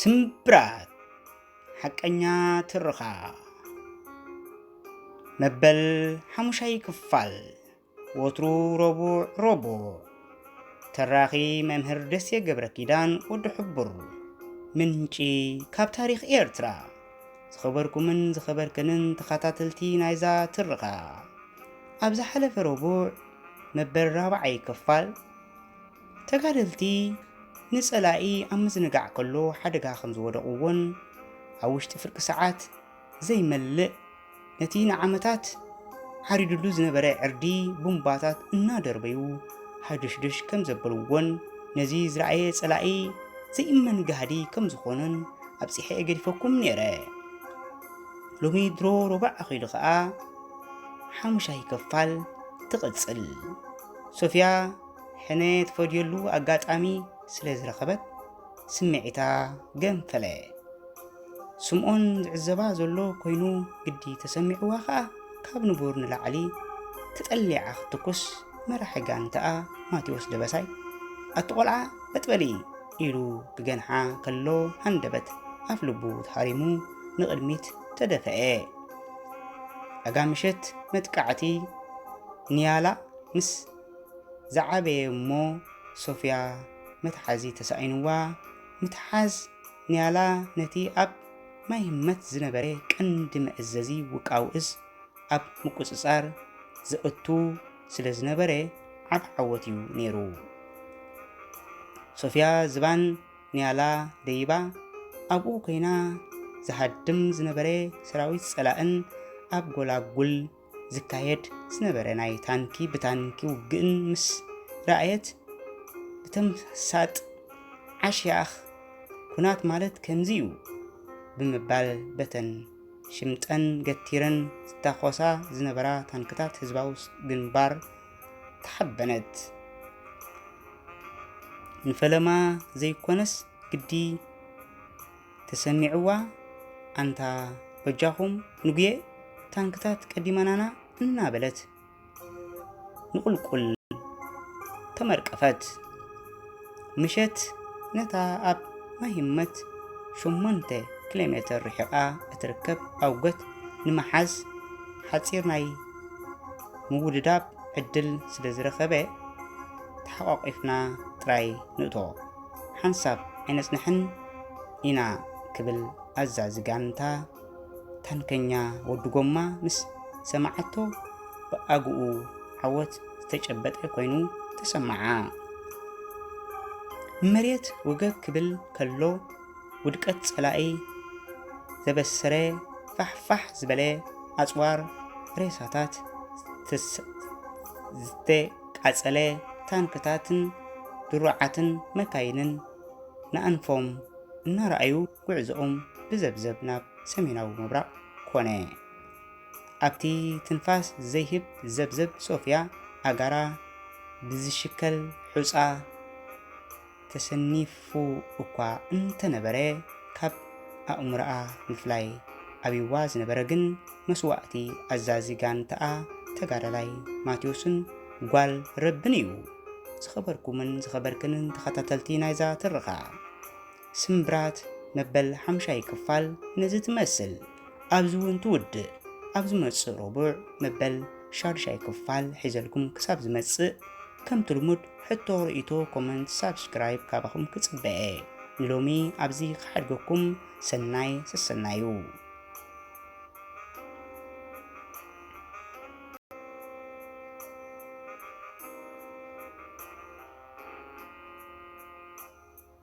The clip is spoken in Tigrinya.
ስምብራት ሓቀኛ ትርኻ መበል ሓሙሻይ ክፋል ወትሩ ረቡዕ ረቡዕ ተራኺ መምህር ደሴ ገብረ ኪዳን ወዲ ሕቡር ምንጪ ካብ ታሪኽ ኤርትራ ዝኸበርኩምን ዝኸበርክንን ተኸታተልቲ ናይዛ ትርኻ ኣብ ዝሓለፈ ረቡዕ መበል ራብዓይ ክፋል ተጋደልቲ ንጸላኢ ኣብ ምዝንጋዕ ከሎ ሓደጋ ከም ዝወደቕዎን ኣብ ውሽጢ ፍርቂ ሰዓት ዘይመልእ ነቲ ንዓመታት ዓሪዱሉ ዝነበረ ዕርዲ ቡምባታት እናደርበዩ ሃዱሽዱሽ ከም ዘበልዎን ነዚ ዝረኣየ ጸላኢ ዘይእመን ጋህዲ ከም ዝኾነን ኣብጺሐ ገዲፈኩም ነይረ። ሎሚ ድሮ ሮባዕ ኣኺሉ ኸኣ ሓሙሻይ ከፋል ትቕጽል ሶፍያ ሕነ ትፈድየሉ ኣጋጣሚ ስለ ዝረኸበት ስምዒታ ገንፈለ። ስምኦን ዝዕዘባ ዘሎ ኮይኑ ግዲ ተሰሚዕዋ ከኣ ካብ ንቡር ንላዕሊ ተጠሊዓ ክትትኩስ መራሒ ጋንታኣ ማቴዎስ ደበሳይ ኣቲ ቆልዓ በጥበሊ ኢሉ ክገንሓ ከሎ ሃንደበት ኣፍ ልቡ ተሃሪሙ ንቕድሚት ተደፈኤ። ኣጋ ምሸት መጥቃዕቲ ንያላ ምስ ዝዓበየ እሞ ሶፍያ መትሓዚ ተሳኢንዋ፣ ምትሓዝ ንያላ ነቲ ኣብ ማይ ህመት ዝነበረ ቀንዲ መእዘዚ ውቃው እዝ ኣብ ምቁጽጻር ዘእቱ ስለ ዝነበረ ዓቢ ዓወት እዩ ነይሩ። ሶፍያ ዝባን ንያላ ደይባ ኣብኡ ኮይና ዝሃድም ዝነበረ ሰራዊት ጸላእን ኣብ ጎላጉል ዝካየድ ዝነበረ ናይ ታንኪ ብታንኪ ውግእን ምስ ረኣየት ብተምሳጥ ዓሽያኽ ኩናት ማለት ከምዚ እዩ ብምባል በተን ሽምጠን ገቲረን ዝተኾሳ ዝነበራ ታንክታት ህዝባዊ ግንባር ተሓበነት። ንፈለማ ዘይኮነስ ግዲ ተሰሚዕዋ ኣንታ በጃኹም ንጉየ ታንክታት ቀዲመናና እናበለት ንቁልቁል ተመርቀፈት። ምሸት ነታ ኣብ ማሂመት ሸሞንተ ኪሎ ሜተር ርሒቓ እትርከብ ኣውገት ንምሓዝ ሓፂር ናይ ምውድዳብ ዕድል ስለ ዝረኸበ ተሓቋቒፍና ጥራይ ንእቶ። ሓንሳብ ኣይነጽንሕን ኢና ክብል ኣዛዚ ጋንታ ታንከኛ ወዲ ጎማ ምስ ሰምዓቶ ብኣግኡ ዓወት ዝተጨበጠ ኮይኑ ተሰምዓ። ንመሬት ወገግ ክብል ከሎ ውድቀት ጸላኢ ዘበሰረ ፋሕፋሕ ዝበለ ኣጽዋር ሬሳታት ቃጸለ ታንክታትን ድሩዓትን መካይንን ንኣንፎም እናረኣዩ ጉዕዞኦም ብዘብዘብ ናብ ሰሜናዊ ምብራቕ ኮነ። ኣብቲ ትንፋስ ዘይህብ ዘብዘብ ሶፍያ ኣጋራ ብዝሽከል ሑጻ ተሰኒፉ እኳ እንተነበረ ካብ ኣእምሮኣ ምፍላይ ኣብይዋ ዝነበረ ግን መስዋእቲ ኣዛዚ ጋንታኣ ተጋዳላይ ማቴዎስን ጓል ረብን እዩ። ዝኸበርኩምን ዝኸበርክንን ተኸታተልቲ ናይዛ ትርኻ ስምብራት መበል ሓምሻይ ክፋል ነዚ ትመስል። ኣብዚ እውን ትውድእ። ኣብ ዝመጽእ ረቡዕ መበል ሻዱሻይ ክፋል ሒዘልኩም ክሳብ ዝመጽእ ከምቲ ልሙድ ሕቶ ርእይቶ ኮመንት ሳብስክራይብ ካባኹም ክጽበየ ንሎሚ ኣብዚ ክሓድገኩም ሰናይ ሰሰናዩ